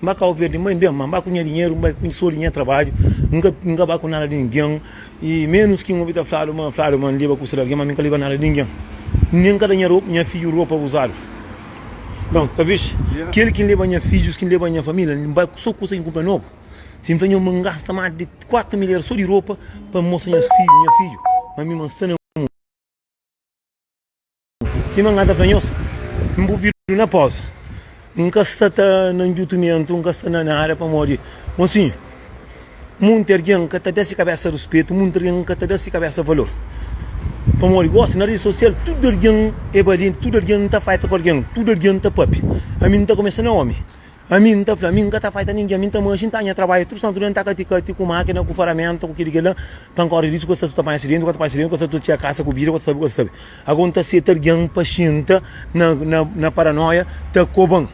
N ba kau verde, N bai nben, ma N ba ku nha dinheru, N bai ku sodi nha trabadju, N ka ba ku nada di ningen, i menus ki N obi ta fladu ma fladu ma N leba kusa di algen, ma mi N ka leba nada di ningen, nen N ka da nha fidju ropa uzadu. Nton, ta visti kel ki N leba nha fidjus, ki N leba nha familia, N bai ku so kusa ki N kunpra nobu. Si N fla nhos ma N gasta mas di kuatu mil eras so di ropa pa N mostra nha fidju, ma mi ma N sta na mundu. Sima N ka ta fla nhos, N bu vidu na poza. N ka sta ta na njutumentu, N ka sta na nada, pamodi, mosinhu, munti argen ka ta da se kabesa ruspetu, munti argen ka ta da se kabesa valor. Pamodi, gosi, na redi sosial, tudu argen e balienti, tudu argen ta faita ku argen, tudu argen ta papia. Ami N ta kumesa na omi. Ami N ta fla, ami N ka ta faita ningen, ami N ta marxa, N ta anha trabadja tudu santu dia, N ta kati kati ku makina, ku faramenta, ku kili kila, ka N korda disu, ka sa tu ta panha asidenti, ka ta panha asidenti, ka sa tu ta txia kasa ku bida, ka ta sabe, ka ta sabe. Ago N ta seta algen pa xinta na na na paranoia ta koban.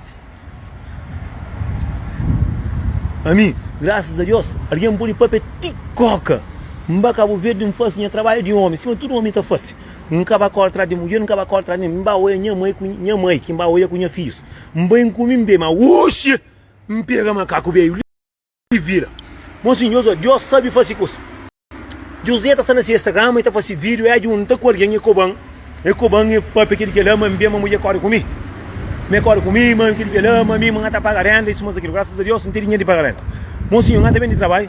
Ami, grasas a Dios, algen N podi papia ti koka. N ba Kabu Verdi, N fasi nha trabadja di omi, sima tudu omi ta fasi. N ka ba korda tras di mudjer, N ka ba korda tras di nen, N ba oia nha mai ku nha mai, ki N ba oia ku nha fijus. N bai N kumi N bebe ma uxi N pega makaku beiu li vira Mon sinhor so Dios sabi fasi kusa José ta sta na si Instagram e ta fasi video e junta ku algen e koban e koban e papia kel kela ma N ben ma mudjer kore ku mi ma e kore ku mi ma kel kela ma mi ma N ta paga renda e suma sa kil graças a Dios N ten dinher di paga renda Mon sinhor N ta ben di trabalho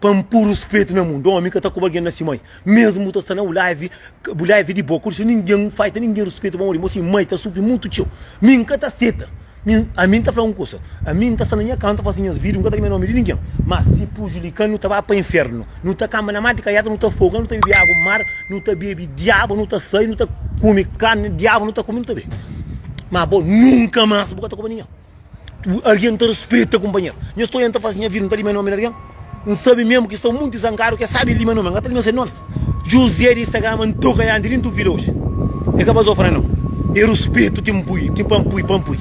Pa N puru spetu na mundu Omi ka ta koba algen na si mai Mesmu bu ta sta na bu live Bu live di bo Kurxa ningen N faita ningen Ruspetu pa muri Mo si mai ta sufri mutu txeu Mi N ka ta seta Mi Ami N ta fla un kusa Ami N ta sta na nha ka N ta fasi nhas video N ka ta rimia nomi di ningen Ma si pujulika-l nu ta ba pa infernu Nu ta kamba na mar di kaiaka Nu ta foga nu ta bebe agu mar Nu ta bebe diabu nu ta sai Nu ta kumi karni diabu nu ta kumi nu ta be Ma bo nunka mas bu ka ta koba ningen. Algen ta rispita kunpanheru. Nhos sta orienta fase nha vida, nu ta lima nomi di algen? N sabe mesmu ki sta un monti zangaru ki es sabe lima nomi. N ka ta lima se nomi. Juzé di Sagrama N toka nha andi li, N ta obi la oji. E ka baza ofrena, nau. E rispitu ki N pui, ki pa N pui, pa N pui.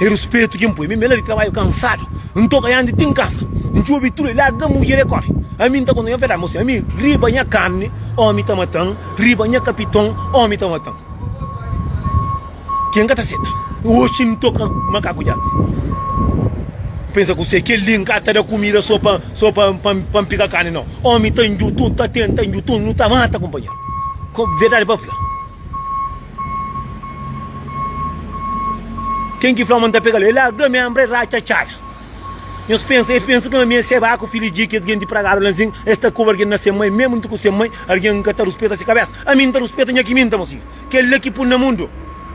E rispitu ki N pui. Mi mi la di trabadju kansadu. N toka nha andi ti N kansa. N djobe tudu el, larga mudjer e kori. Ami N ta konta nha verdadi, mo sinhor. Mi riba nha karni, omi ta mata-m. Riba nha kapiton, omi ta mata-m. Ki N ka ta seta. Oxi N toka makaku dja. N pensa ku se, Kel li N ka ta da kumida so pa so pa pa N piga kani nau. Omi ta njutu, N ta tenta njutu, nu ta mata kunpanheru. Ko verdadi pa fla. Ken ki fla ma N ta pega li, e larga mi anbra e ratxa txada. Nhos pensa, e pensa kuma mi e seba ku fidju di kes genti pragadu la nsin, e sta ku algin na se mai. Mesmu N ta ku se mai, algin ka ta ruspeta se kabesa. Ami N ta ruspeta nha kiminta, mosiu. Kel-la ki pun na mundu.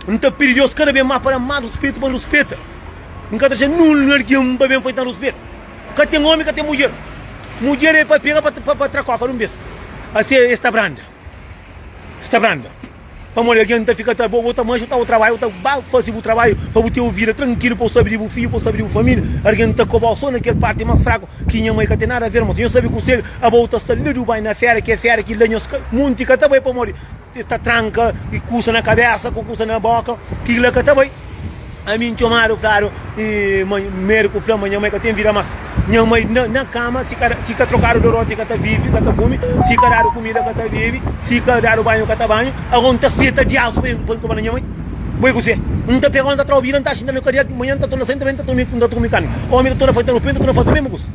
N ta pidi Deus kada bes más pa da-m más ruspetu pa N ruspeta. N ka ta atxa nul na algen pa ben faze-m ruspetu. Ka ten ómi, ka ten mudjer. Mudjer é pa pega pa tra kóka di un bes. Asi es ta branda. Es ta branda. Pamodi algen ta fika ta bo, bo ta manxa, bu ta bai trabadja, bu ta bai faze bu trabadju pa bu ten un vida trankilu pa bu sabe di bu fidju, pa bu sabe di bu família. Algen ta koba-u so na kel párti más fraku ki nha mai ka ten nada aver. Mos, nhos sabe ku serga aba bu ta sta ladu bai na féra, ki é féra ki la nhos ka, monti ka ta bai pamodi. Es ta tranka i kusa na kabésa ku kusa na bóka. Kila ka ta bai. Ami N txomadu fladu i ma medu ku fla ma nha mai ka ten vida más. Nha mai na, na kama, si ka, si ka trokadu doroti ka ta vive, ka ta kume, si ka dadu kumida ka ta bebe, si ka dadu banhu ka ta banha. Agora N ta seta diasu pa N ka ba na nha mai? Bo i kuse? N ta pega, N ta tra obida, N ta xinta na kadia, manha N ta torna sai, N ta ben, N ta toma, N ta toma i kami. Omi ta torna fai, ta nu pende, ta nu fase mésmu kusa.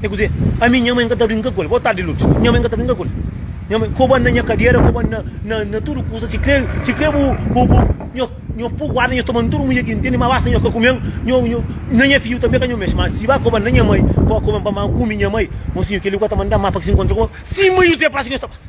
E ku ze, Ami nha mai n ka ta brinka ku el. Bo tardi Lourdes, Nha mai n ka ta brinka ku el. Nha mai, Ko ba na nha kadera, ko ba na tudu kusa, si kre bu nhos pô guarda, nhos toma-m tudu mudjer ki ntende, ma basta nhos ka kume-m, na nha fidju tanbe ka nhos mexe. Ma si ba ko ba na nha mai, bo ka kume-m, pamodi ami kumi nha mai. Mosinhu, kel-li ku ka ta manda-m má pa ki se nkontra ku bo sima Juzé pasa ki nhos ta pasa.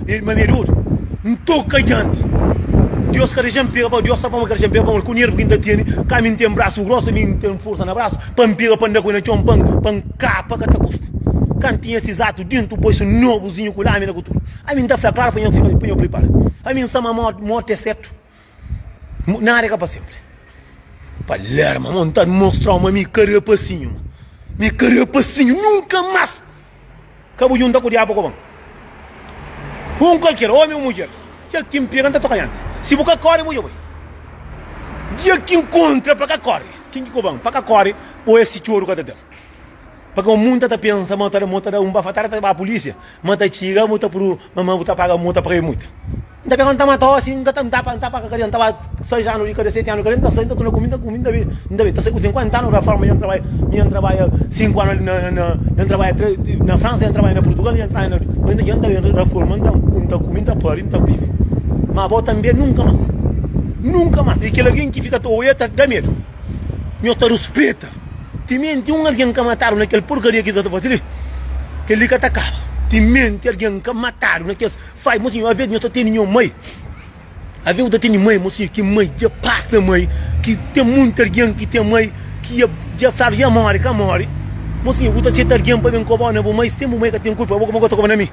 Ei ma medi otu N toka dianti Dios ka dexa-m pega pa Dios Sa pama ka dexa-m pega pa mô-l Ku nervu ki N ta tene Ka mi N ten brasu grosu Mi N ten forsa na brasu Pa N pega pa N da ku el na txon Pa N pa N kapa ka ta kusta Ka N tinha sis atu Dintu bu poisu nobuzinhu Ku lamina ku tudu Ami N ta fla klara pa nha fika Pa nha pripara Ami N sa ma mô mô ta é sertu. Nada é ka pa senpri. Palerma, mon ta mostra-u ma mi ka rapasinhu. Mi ka rapasinhu, nunka más ka bu junta ku diabu koban. Un kualker, omi o mudjer, kel ki N pega N ta toka dianti. Si bu ka kóre, bu dja bai. Dia ki N kontra pa ka kóre, kin ki koban? Pa ka kóre, bo é si txoru ka ta da-m. Pa ka mun ta ta pensa ma ta mo ta da un bafatada ta ba polisia ma ta txiga mo ta pru ma ma bu ta paga mo ta paga e muita n ta pega n ta mata osi n ka ta n ta pa n ta pa ka kadian ta ba sais anu di kada seti anu di kada n ta sai n ta tuna ku mi ta ku mi n ta be n ta be ta sai ku sinkuenta anu ra forma ya n trabai mi ya n trabaia sinku anu ali na na ya n trabaia tre na fransa ya n trabaia na purtugal ya n trabaia na ma inda dja n ta ben ra forma n ta ku n ta ku mi n ta pari n ta vivi ma bo ta n be nunka mas nunka mas e kel algin ki fika ta oia ta da medu. Nho ta ruspeta. Timenti un algen ka matadu na kel porkaria ki es sta ta faze li, kel li ka ta kaba. Timenti algen ka matadu na kes fai, mo sinhor, alvês nho ta tene nho mai. Alvês bu ta tene mai, mo sinhor, ki mai dja pasa mai, ki ten monti algen ki ten mai ki dja dja sabe dja móre, ka móre. Mo sinhor, bu ta seta algen pa ben koba-u na bu mai, sen bu mai ka ten kulpa. Bo ka ben gosta koba na mi?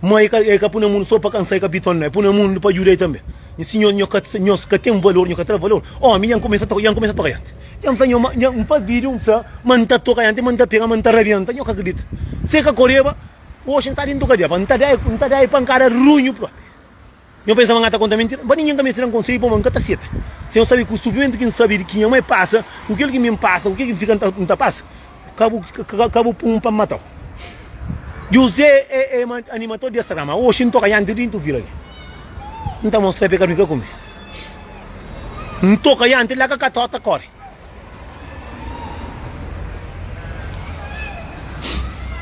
Ma el ka pui na mundu so pa kansa, el ka pi torna, el pui na mundu pa djuda-i tanbe. Nha sinhor, nho ka nho ka ten valor, nho ka tra valor. Omi dja N kumesa ta, dja N kumesa ta toka djanti. Dja N fla nho ma, dja N fla vídiu, N fla ma N ta toka djanti, ma N ta pega, ma N ta rabienta. Nho ka kridita. Se ka koreba, oxi N sta di N toka-di apa? N ta da-i, N ta da-i pankada runhu propi. Nho pensaba nha ta konta mentira pa ninhen ka meste da-m konseiu pamo nka ta seta sen nho sabe ku sufimentu ki nsabe di ki nha mai pasa ku kel ki mi npasa ku kel ki nfika nta pasa ka bu pun pa nmatau José e e ma animator di es rama oxi ntoka nha nti dintu vila li nta mostra pekadu mi ka kume ntoka nha nti la ka kata ota kori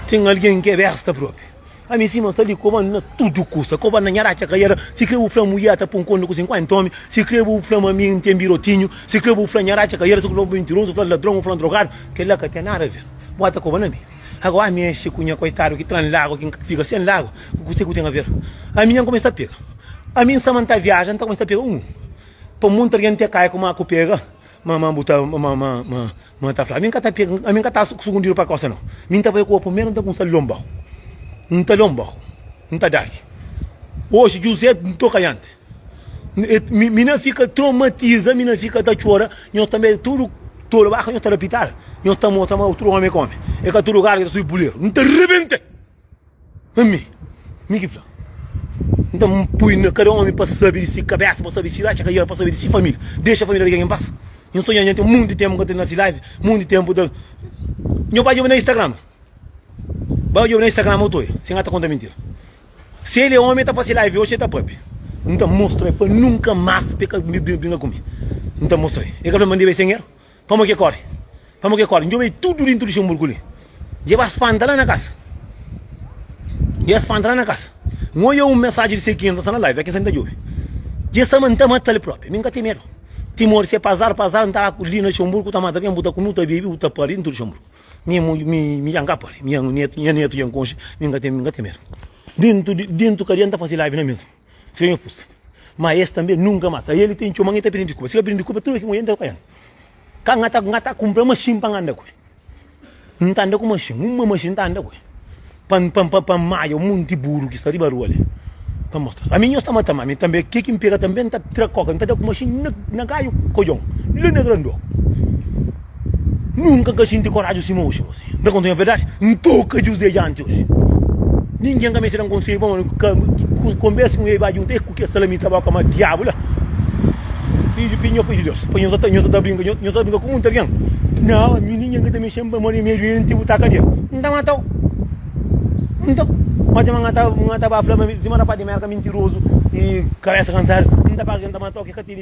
ten algen ke besta propi. Ami sima sta li ku bandi na tudu kusa Ku bandi na nha ratxa ka yera Si kre bu fla-m mu ia ta pon konde ku sinkuenta omi Si kre bu fla-m ami N ten birotinhu Si kre bu fla-m nha ratxa ka yera Si kre bu fla-m mintirozu, fla-l ladron o fla-l drogadu Kel-la ka ten nada aver Bua ta koba na mi Ago ami enxe ku nha koitadu ki tra-m lagu Ki N ka fika sen lagu Ku kuse ku ten aver ami Nha N kumesa ta pega ami N sama N ta viaja N ta kumesa ta pega un pa un monti algen N te kai kuma ku pega. Ma ma bu ta ma ma ma ma ta fla, ami nka ta pega, ami nka ta sugundidu pa kosa nau, mi nta bai ku opu mel nta ku nta lonbau, nta lonbau, nta daki. Oxi Juzé ntoka yanti, mi mi na fika tromatiza, mi na fika ta txora, nhos tanbe é tudu tolu ba ka nhos ta lapital, nhos ta mostra ma tudu omi é ka omi, é ka tudu garga ta subi puleru, nta rebenta. Ami, mi ki fla. Nta N pui na kada omi pa sabe di si kabésa, pa sabe di si ratxa kaial, pa sabe di si família. Dexa família di algen en pas. Nhos ta odja nha ten monti di ténpu N ka ta na si live, monti di ténpu N ta. Nhos bai odja-m na Instagram. Bai odja-m na Instagram bo ta odja si N ka ta konta mintira. Si el é omi, el ta fase live oxi, el ta pape. N ta mostra-l pa nunka más pa el ka brinka ku mi. N ta mostra-l. El ka fla ma N debe sen el. Pamo ke kore, pamo ke kore, ndjobe tudo dentro de Xamburco li, dje ba spanta la na casa, dje ba spanta la na casa, nho oia um mensagem de Cequinha nta sta na live, aqui sem nta djobe, dje sta ma nta mata li propria, mi nka tem medo, timor se pa azar, pa azar nta aku li na Xamburco ta mata bien, bu ta kume, bu ta bebe, bu ta pari dentro de Xamburco, mi mu, mi, mi dja nka pari, nha neto, nha neto dja nkonxe, mi nka tem, mi nka tem medo, dentro de, dentro kadiâ nta fazi live na mesmo. Siga nha pusta. Má es tanbê nunka más. Aí el ten txeu, má nha ta prende di Kuba. Si ka prende di Kuba, tudu ki nhu anda, nhu ta kaianu. Ka nha ta, nha ta kunpra maxin pa nha anda ku el. Nhu ta anda ku maxin. Uma maxin nhu ta anda ku el. Pa N, pa N, pa N maia un monti buru ki sta riba rua li. Ta mostra-s. Ami nhos ta mata-m ami tanbê. Ke ki N pega tanbê N ta tra koka, N ta da ku maxin na, na gaiu ku odjon, la na Grandioku. Nunka ka xinti koraji sima oxi gosi. N ta konta-u nha verdadi? N toka Juzé dianti oxi. Ningen ka meste da-m konselhu pamodi ku konversa ku un ei ba djunta ei ku kes salamita ba koma diabu la. Fidju pi nho, Fidju di Deus. Pa nho sa ta, nho sa ta brinka, nho sa ta brinka ku munti algen. Nau, ami ningen ka ta mexe-m pamodi mi é duenti bu ta kadia. N ta mata-u. N ta. Má dja ma nha ta, nha ta ba fla ma mi, sima rapás di merka mintirozu i kabésa kansadu, N ta paga ki N ta mata-u, ki ka tene.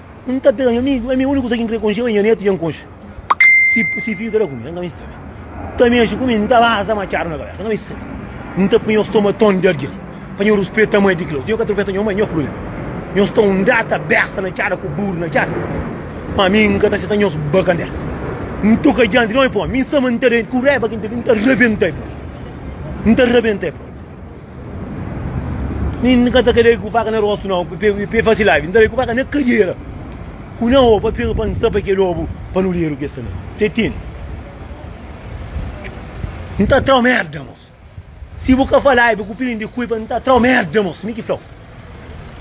N ta pega nha amigu, ami úniku kuza ki N krê konxe é nha netu dja N konxe. Si si fidju ta da ku mi, N ka ben sabe. N ta mexe ku mi, N ta baza matxadu na kabésa, N ka ben sabe. N ta poi nhos toma ton di algen pa nhos ruspeta mai di ki la otu. Nhos ka ta ruspeta nha mai, nha prubléma. Nhos ta undata besta na txada ku buru na txada. Ma mi N ka ta seta nhos ba kandésa. N toka dianti di omi pa omi. Mi samba N ta da, ku raiba ki N ta ten, N ta rabenta el pa omi. N ta rabenta el pa omi. Ni N ka ta ka dai ku faka na rostu nau, pa e fasi laivi. N ta dai ku faka na kadera ku na obu, pa pega pa N sapa kel obu pa nu dedu ki es ta da. Se tene. N ta atrau merda, mos. Si bu ka fa laivi ku pilin di kui pa N ta atrau merda, mos. Mi ki flau.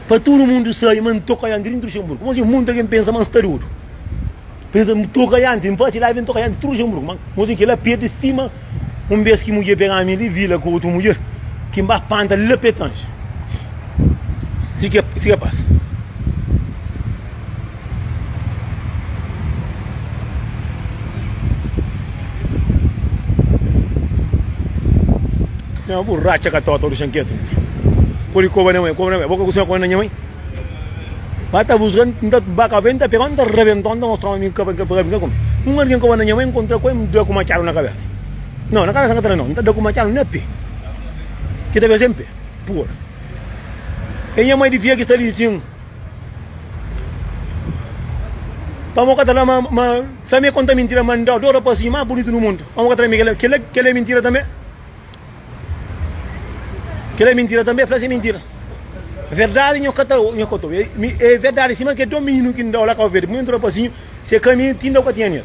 Pa tudu mundu sabe ma N toka iantri tudu Luxemburgu Kuma si mundu algen pensa ma N sta dodu Pensa N toka iantri N fasi live N toka iantri tudu Luxemburgu ma Kuma si kila perde stima Un bes ki mudjer pega mi li vila ku otu mudjer Ki N ba panta la Petange Si ke pasa. Nha borracha ka tota do xanketu. Pode koba na mãe, koba na mãe. Boka kusinha koba na nha mãe. Ba ta busca, nta ba ka venta pega, nta rebenta, nta mostra amigo ka ka pega binga com. Um alguém koba na nha mãe, encontra com em dá com machado na cabeça. Não, na cabeça nta não, nta dá com machado na pé. Que deve sempre, pura. E nha mãe de via que está ali sim. Pamo ka ta fla ma Samia konta mintira ma N ta adora pasinhu más bunitu nu mundu. Pamo ka ta fla mi kel-la, kel-la, kel-la é mintira tanbe. Kel-la é mintira tanbe, fla-s é mintira. Verdadi nho ka ta obi, nho ka ta obi. É verdadi sima kel domíniu ki N da-u la Kau Verdi. Pamodi N ta adora pasinhu, se ka mi, ti N da-u ka tinha nen-l.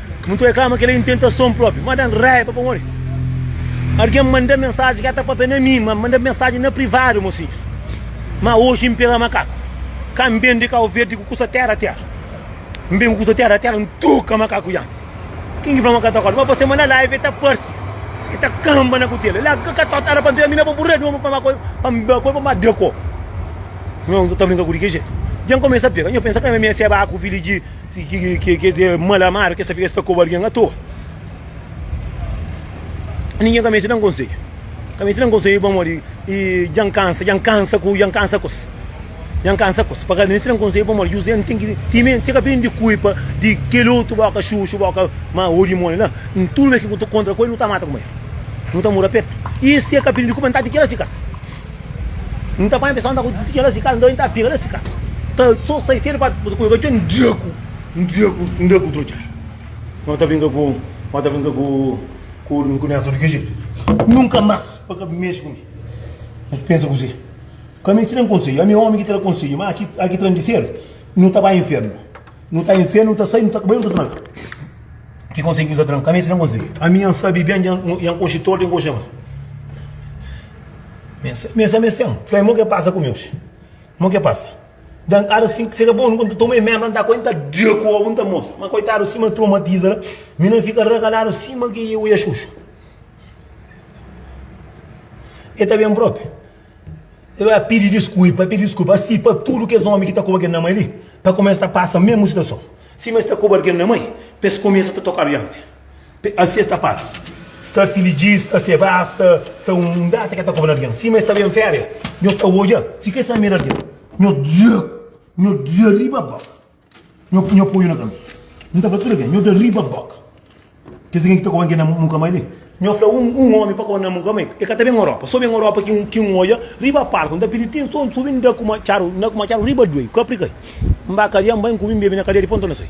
Nu ta reklama kel-la en tentason própi. Má da-m raiba pamodi algen manda-m mensaji, ki el ta pâpia na mi, má manda-m mensaji na privadu, Mon Sidjo, má oji N pega makaku. Ka N ben di Kauverdi ku kusa téra-téra. N ben ku kusa téra-téra, N troka makaku Yampi. Ken ki fla ma ka ta korda? Má pa sema na live el ta parse, el ta kanba na kutela. El da kakatót, éra pa N pega mi na bo, bu reda omi pa makoi, pa N bakoi, pa N ba dako. Nhos ta brinka ku li ki jetu? Dja N kumesa pega. Nhos pensa krama mi é seba ku fili di. Si ki es é mal amadu, ki es ta fika, es ta koba algen atoa. Ningen ka meste da-m konsedju. Ka meste da-m konsedju pamodi dja N kansa, dja N kansa ku, dja N kansa ku es. Dja N kansa ku es. Pa ka meste da-m konsedju pamodi Juzé N ten ki timenti si el ka prende kulpa di kel otu boka xuxu, boka ma odju moli la, N tudu bes ki N ta kontra ku el, nu ta mata kuma el. Nu ta muda petu. I si el ka prende kulpa, N ta atira si kasa. N ta panha pessoal n ta ku tuti kelas di casa, nton N ta pega la si casa ta so sai sedu pa bu ta kuza katxor N dia ku N dia ku N dia ku trotxar no ta brinka ku no ta brinka ku ku ku Nelson di ki jetu nunka mas pa ka mexi ku mi nhos pensa kuze ka mi tira-m konselhu ami omi ki tira konselhu ma aki aki tira-m di sedu no ta bai infernu. Nu ta infia, nu ta sai, nu ta bai, nu ta tra. Ki konsegu ki Jizus ta da-m? Kanbê insinal konsegu. Ami nha N sabe ben, nha N konxe tortu, nha N konxe mal. Mi N sabe es ten. Fla-m mo ki pasa ku mi oji. Mo ki pasa. Den ára si ka bon, nu kontinua ta toma remedi, má N ta kóre, N ta da ku obu, N ta mostra. Má koitadu, sima es tromatiza la, mi na fika ragaladu sima ki oiaxuxu. El ta ben própi. El bai la pidi diskulpa, el pidi diskulpa asi pa tudu kes ómi ki ta koba kel namai li, pa kuma es ta pasa mesmu situason. Sima es ta koba kel namai, pa es kumesa ta toka bianti. Asi es ta para sta filijis, sta sebas, sta un data ki el ta koba na algin. Sima es ta ben féria, nhos ta odja si ka es ta mira algin, nhos dja, nhos dja riba ba. Nho nho apoio na caminho. Nho ta fla tudo alguém, nho ta riba boca. Kes alguém que ta cobangue na mu nunca mais vem. Nho fla um um homem pa cobangue na nunca mais vem. E ca ta bem Europa, só bem Europa que um que um oia riba palco nta pidi tem som subi nda ku ma tcharu nda ku ma tcharu riba duei ka pricai. Mba cadeia mba incubi mbebi na cadeia depois nta na sai.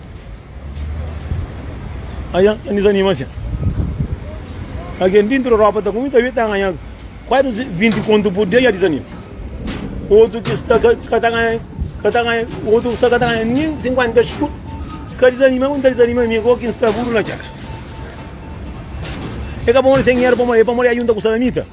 Ajan ka disanima sen. Algen di inti di Europa ta kume kabe ta ganha kuazi 20 kontu pur dia, dja disanima. Otu ki sta ka ta ganha, ka ta ganha, otu ki sta ka ta ganha nin 50 skudu, ka disanima. Ku N ta disanima ami ku okin sta budu na txera? E ka pamodi se dinheru, e pamodi ajunta ku salamita?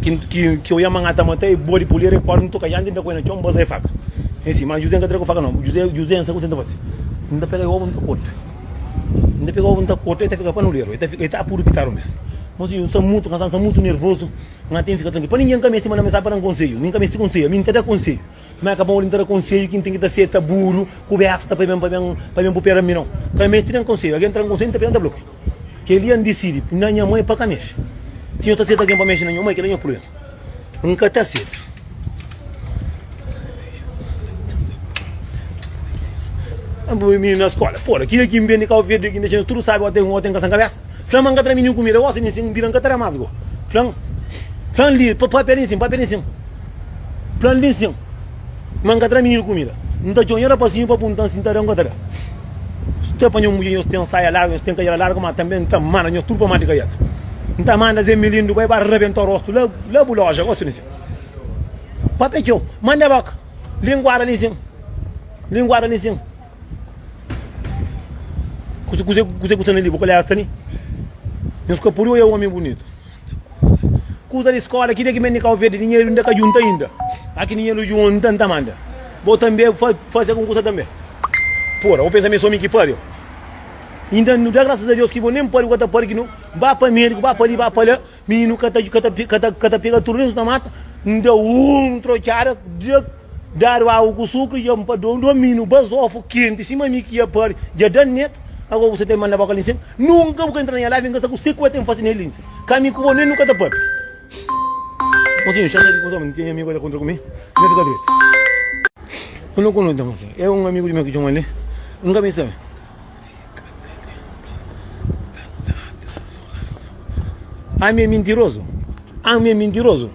ki ki oia ma nha ta mata e bode polera e korda ntoka yandi nta koe na txon baza e faka e si ma juzé nka tra ku faka no juzé juzé nsa ku tenta fasi nta pega e obu nta korta nta pega obu nta korta e ta fika panuleru e ta fika e ta puru pitadu mes mon sinhor nsa mutu kansa nsa mutu nervozu nha ten fika trankil pa ninge nka mesti manda mensagi pa dan konseiu mi nka mesti konseiu ami nta da konseiu Má ka pode N ta da konsedju ki N ten ki ta seta buru ku bésta pa ben pupera ami. Nau, ka meste da-m konsedju. Algen tra-m konsedju, N ta pega-l, N ta bla-l ku kel-li N disidi pui na nha mô é pa ka mexe. Si nho ta seta algen pa mexe na nho mô, é kel-la nho prubléma. N ka ta seta. N pui mininu na skola. Pô-la, ki da ki N ben di Kau Verdi ki N dexa-s tudu sábi, ôten ka sen kabésa. Fla-m, N ka ta da-m ninhun kumida. Gósi li nsin, N bira, N ka ta da más go. Fla-m, Fla-m li, Pâpia li nsin, pâpia li nsin. Fla-m li nsin, Má N ka ta da-m ninhun kumida. N ta txonha rapazinhu pa punta-m si N ta da-m o N ka ta da. Nhos ta panha un mudjer, nhos ten saia largu, nhos ten kajela largu, má tanbê N ta manda nhos tudu pa mata kajela. N ta manda Zé Melindo bai ba rabenta rostu la, la bu loja. Gósi li nsin. Pâpia txeu, Manda-ba ka. Linguada li nsin, Linguada li nsin. Kuse, kuse, kuse ku sta ali? Bo kal é esta ali? Nhos ka pode oia omi bunitu. Kusa di skola, ki dia ki ben di Kau Verdi, dinheru inda ka junta inda. A ki dinheru junta, N ta manda. Bo tanbe fa- fase algun kusa tanbe. Pura, bo pensa mi é so mi ki pariu. Inda nu da grasas a Deus ki bo nen pariu, ka ta pariu ki nu ba pa mediku, ba pa li, ba pa la. Mininu ka ta pega tudu nen so ta mata, N da un trotxada dja dadu agu ku sukri dja pa do do mininu bazofu kenti sima mi ki dja pari dja da-m netu ago bu sa ta ben manda boka li nsin nunka bu ka intra na nha lar bin kasa ku se ku e ten fasi ne li nsin ka mi ku bo nen nu ka ta papia mosinhu xata di kuzon mi n tinha amigu ta kontra ku mi na fika trisi un kunu nta mosinhu e un amigu di mi ki txoma li n ka bin sabe. Ami é mintirozu, ami é mintirozu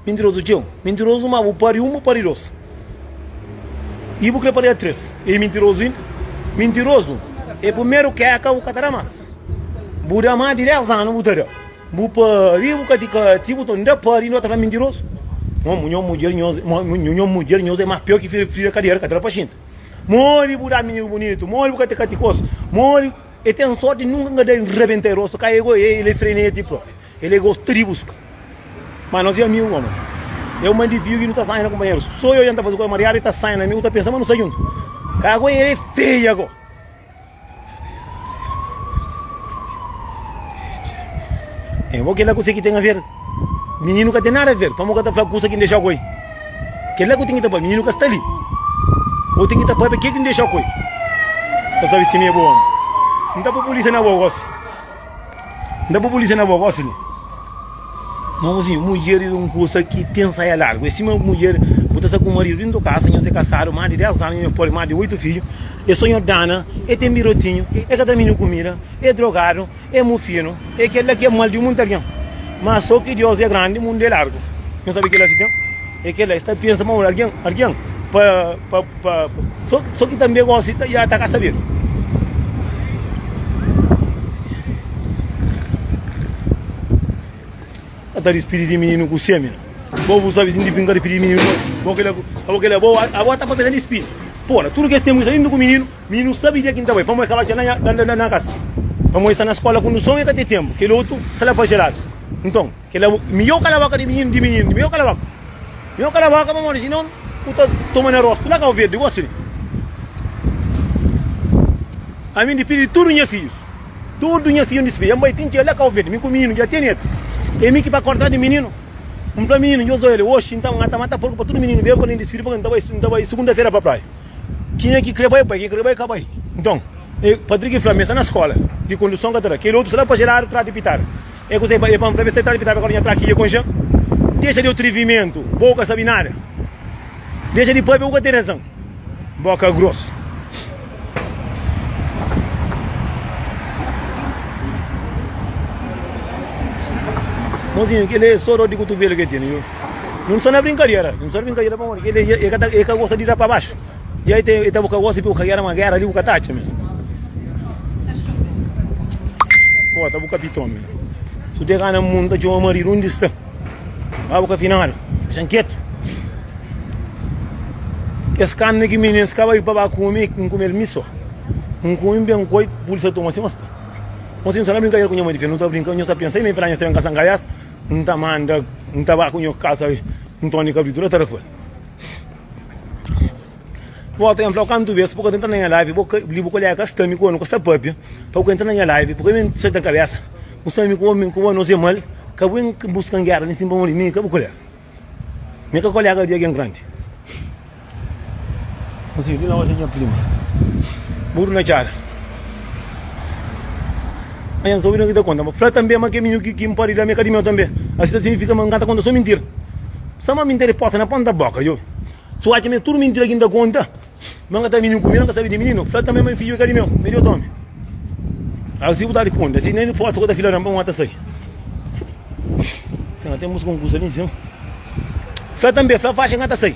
Mintirozu txeu, mintirozu Má bu pâria un, bu pâria dôs I bu krê pâria três I mintirozu inda, mintirozu É primeru kéka bu ka ta da más Bu da más di dés anu bu ta da Bu pâria bu ka ti ka ti Bu ta inda pâria inda bu ta fla mintirozu Nho-nho mudjer nhos, nho-nho mudjer nhos É más piór ki fira-fira Kadiera ka ta da pa xinta Modi bu da menigu bunitu, modi bu ka ta katikosu, modi e ten sorti nunka ka da rabenta e rostu, ka e goi e, el e freneti propi, el e gosta di buska. Ma nos e amigu goma. E un mandiviu ki nu ta sanha na kunpanheru, so yo ja n ta fasi koza mariadu, el ta sanha na mi, u ta pensa ma nu sta juntu. Ka goi el e feia go. É, bo kel-la kuse ki ten aver? Mininu ka ten nada aver, pamodi ka ta fla kusa ki N dexa koi. Kel-la ku ten ki ta pâpia, mininu ka sta li. Bo ten ki ta pâpia kel ki N dexa koi. Ta sabe si mi é bo omi, N ta pô pulísia na bo gósi. N da bo polísia na bo gosi li. Mozinho, mudjer é un kusa ki ten saia largu, é sima mudjer bu ta sta ku maridu dentro kasa, nhos é kasadu más di 10 anu, nhos pode más di 8 fidju, é so nho dana, é ten birotinhu, é ka ta mi nho kumida, é drogadu, é mu finu, é kel la ki é mal di munti algen. Má so ki Dios é grandi, mundu é largu. Nhos sabe kel la si ten, é kel la, e sta pensa ma un algen, algen pa, pa. Pa so ki tanbe gosi ta ya ta ka saber. Ka ta dispidi di mininu ku semi na. Bo bu sabi sindi brinka dispidi di mininu gosi. Bo kila abo kila bo abo ta papia na dispidi. Po na tudu kes tempu i sa inda ku mininu, mininu sabi dia ki N ta bai pamodi kaba dja na na na kasa. Pamodi i sta na skola kunduson i ka ten tempu. Kel otu sta la pa geladu. Nton. Kela mihor kala boka di mininu di mininu di mihor kala boka mihor kala boka pamodi si non u ta toma na rostu la kau verdi gosi li ami ndi pidi tudu nha fijus tudu nha fiju ndi sibi ami bai tinti el la kau verdi mi ku mininu dja tene etu e mi ki pa korda di mininu mi fla mininu nhos oja li oxi nta nata mata porku pa tudu mininu ben pa li ndi sibi pa nta bai nta bai sugunda fera pa praia kinha ki kre bai bai kinha ki kre bai ka bai nton e patriki fla mi sta na skola di konduson ka ta da keli otus la pa jeradu trati pitara É kuze é pa N fla-m, Satan, p'e ta ben kóntra nha trákia kon Jan? Dexa di atrivimentu, bo bu ka sabe nada. Dexa di pâpia, bu ka ten razan. Bóka grosu. Mozinhu, kel é só dor di kutuvelu ki el tene. Nun sta na brinkadera. Nun sta na brinkadera pamodi ki el é ka ta, el ka gosta di da pa baxu. Dja e ten e ta bu ka gosi pi bu ka gera ma gera li bu ka ta atxa mi Bo ta bu kapiton mi Su de ka na mundu ta txoma maridu undi sta Ba bu ka final Xan ketu Kes karni ki minins ka bai pa ba kumi N kume el mi so N kumi ben koi Pulsa toma si ma sta Mo si N sa na brinka ker ku nha madi fe Nu ta brinka nhos ta pensa mi Pra nhos ta ben kasa N ka bes N ta manda N ta ba ku nho kasa N toni kabritu la ta rafal Bota em flau kantu bes bu ka ta entra na nha live bo li bu kolega ka sta mi ku bo nu ka sta papia pa bu ka entra na nha live bu ka ben seta kabesa bu sabe mi ku bo mi ku bo nos e mal ka bu ben buska un gera nisi npamodi mi ka bu kolega mi ka kolega di algen grandi mi si di la oja nha prima buru na cara. Nha Zói na ki ta konta, ma fla tanbê ma kemiñu ki ki N pode da-m é ka di meu tanbê. Asi ta signifika ma N ka ta konta sô mintira. Sô ma mi N ten resposta na ponta bóka djobe. Si bu atxa ma é tudu mintira ki N ta konta, ma N ka ta mintiu ku mi, N ka sabe di mininu. N fla tanbê ma N fidju é ka di meu, ma é di otu ómi. Asi bu ta responde, Asi nen forsa ku ta fila nan pa N ta sai. Ten bus konkursu ali n sima. Fla tanbê, Fla faxi N ka ta sai.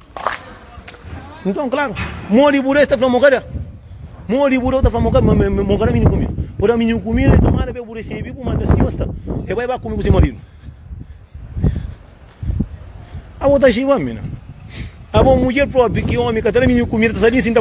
Nton, klaru, mô di bu rei sta fla mo, Kada? Mô di bu rei ta fla mo, Kada? Ma mo kada mini ku mi. Pur-la mini ku mi, rei ta manda pa e bu resebi bu, manda sinhor sta, e bai ba kume ku se maridu. Abo ta xiba mi, na? Abo mudjer propi, ki omi ka ta da mini kumida, ta sa di nsinta pa mi?